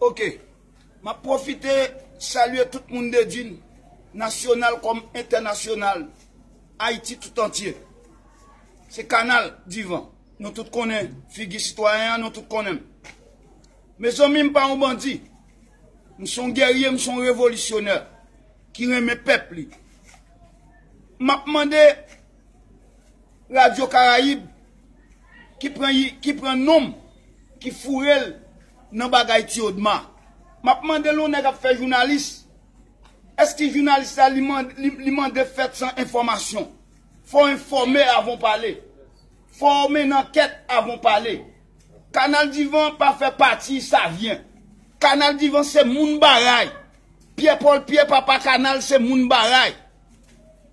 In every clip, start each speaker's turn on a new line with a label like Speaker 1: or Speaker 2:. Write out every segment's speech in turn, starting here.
Speaker 1: Ok map profite salye tout moun dedin nasyonal kom entènasyonal ayiti tout antye se kanal divan nou tout konnen figi sitwayen an nou tout konnen m mezanmi m pa yon bandi m son gerye m son revolisyonè ki renmen pèp li map mande Radyo Karayib ki pran non m, ki foure l nan bagay Ti Odma. M ap mande l yon nèg ap fè jounalis, èske jounalis la li mande fèt san enfòmasyon? Fò w enfòme avan w pale. Fò w mennen ankèt avan w pale. Kanal Divan pa fè pati Savyen. Kanal Divan se moun Baray. Pyè Pòl Pyè, papa kanal, se moun Baray.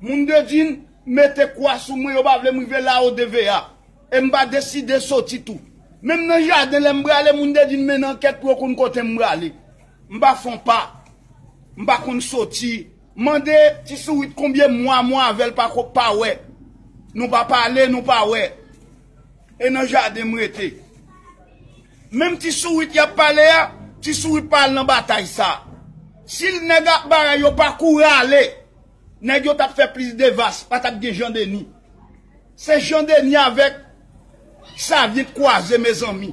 Speaker 1: Moun Bedjine mete kwa sou mwen yo pa vle m rive la o DVA e m pa deside soti tou. Menm nan jaden lè m prale moun Bedjine mennen ankèt pou yo konn kote m prale. M pa fon pa. M pa konn soti. M mande Ti Sourit konbyen mwa mwen avè l pa wè. Nou pa pale, nou pa wè. E nan jaden m rete. Menm ti sourit yap pale a, ti sourit pa al nan batay sa. Si nèg ak baray yo pa kouri ale, nèg yo tap fè plis devas, pa tap gen Jean Denis. Se Jean Denis avèk Xavier t kwaze mezanmi.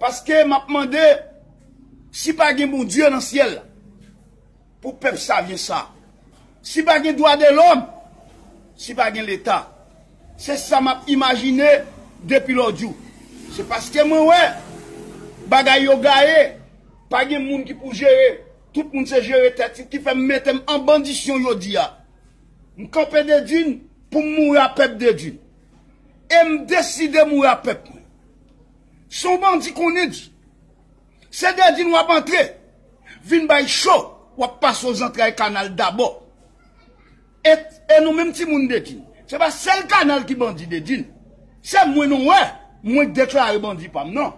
Speaker 1: Paske map mande si pa gen Bondye nan syèl la pou pèp savyen sa, si pa gen dwa de lòm, si pa gen leta. Se sa map imajine depi lòjou. Se paske mwen wè bagay yo gaye, pa gen moun ki pou jere, tout moun se jere tèt yo ki fè m mete m an bandisyon jodi a. M kanpe Dedun pou m mouri a pèp Dedun. e m deside mouri a pèp mwen. Se yon bandi konnen di. Se Dedin w ap antre vin bay cho w ap pase w zantray kanal dabò. E nou menm timoun Dedin, se pa sèl kanal ki bandi Dedin. Se mwen nou wè, mwen deklare bandi pa m nan.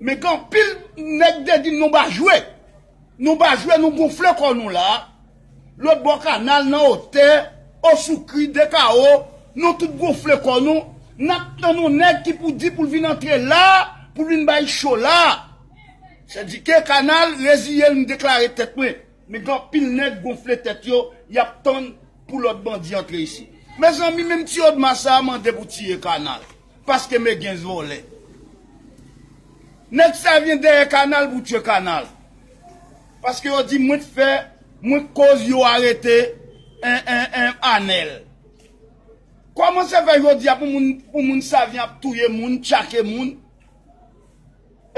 Speaker 1: Men gen anpil nèg Dedin nou ba jwe. Nou pa jwe nou gonfle kò nou la, lòt bò kanal nan otè, o sou kri de kawo, nou tout gonfle kò nou, nap tann yon nèg ki pou di poul vin antre la, poul vin bay cho la. Sè di ke kanal reziyel m deklare tèt mwen, men gen anpil nèg gonfle tèt yo, yap tann pou lòt bandi antre isi. Mezanmi menm ti odma sa mande pou tiye kanal. Paske me gen vole. Neg sa vyen deye kanal pou tye kanal. Paske yo di mwen t fe mwen t koz yo arete anel. Koman se fe jodi a pou moun sa vyen ap touye moun, tchake moun.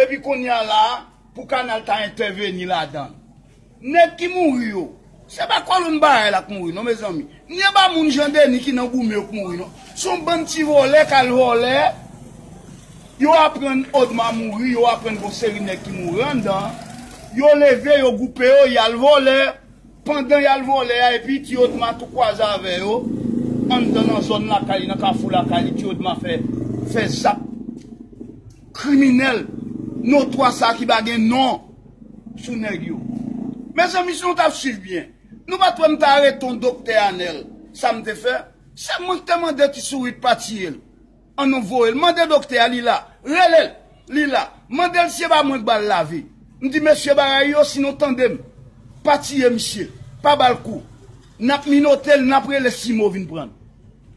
Speaker 1: Epi konnya la a pou kanal ta entèveni ladan l. Nèg ki mouri yo, se pa kolonn barèl ak mouri non mezanmi. Ni anba moun Jan Deni ki nan goumen yo k mouri non. Se yon bann ti vòlè k al vòlè, yo aprann Odma mouri, yo aprann gen yon seri nèg ki mouri anndan an, yo leve, yo gwoupe yo, y al vòlè, pandan y al vòlè a epi ti Odma tou kwaze avè yo anndan nan zòn lakay li, nan kafou lakay li, ti Odma fè zak. Kriminel notwa sa ki pa gen non sou neg yo. Mezanmi si nou tap swiv byen, nou pat wè m t arete yon doktè Anel, sa m te fè? Se mwen ki te mande ti sourit pa tiye l. An nou voye l, mande doktè a li la, rele l, li la, mande l si se pa mwen ki ba l lavi. M di mesye bagay yo si nou tande m, pa tiye misye, pa ba l kou. Nap minote l, nap rele Simo vin pran l.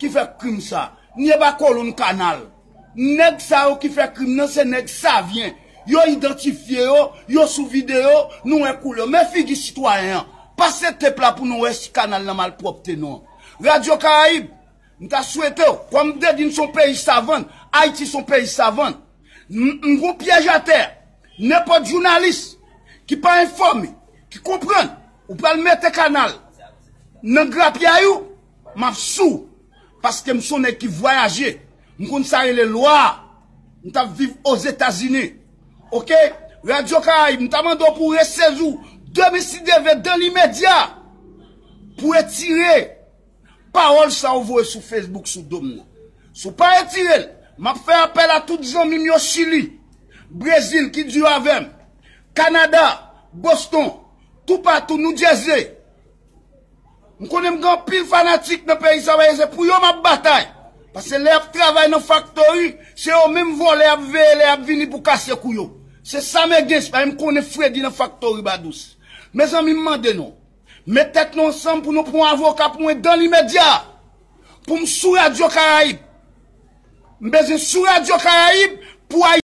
Speaker 1: ki fè krim sa. Nye ba kolonn kanal. Nèg sa yo ki fè krim nan se nèg savyen. Yo idantifye yo, yo sou videyo, nou wè koulè yo. Men figi sitwayen an. Pase tep la pou nou wè si kanal nan malpwòpte non. Radyo Karayib, m ta swete w, kòm m te di n son peyi savann, Ayiti son peyi savann. M gon pyèj atè a. Nenpòt jounalis ki pa enfòme, ki konprann, ou pral mete kanal nan grapyay ou. Map sou ou paske m son nèg ki vwayaje m konn sa rele lwa m tap viv ozetazini ok radio caraïbe m ta mande w pou w resezi w demen si Dye vle dan li media pou etire pawòl sa ou voye sou facebook sou dom nan si w pa etire l map fè apèl a tout zanmi m yo chili brezil ki di yo avè m canada boston toupatou noudjèze. M konnen m gen anpil fanatik nan peyi sa paske se pou yo m ap batay. Paske lè y ap travay nan faktori, se yo menm vòlè ap veye lè y ap vini pou kase kou yo. Se sa men gen, se pa m konnen fredi nan faktori ba dous. Mezanmi m mande nou, met tèt nou ansanm pou nou pran avoka pou mwen dan limedya a. Pou m sou radyo karayib. M bezwen sou radyo karayib pou.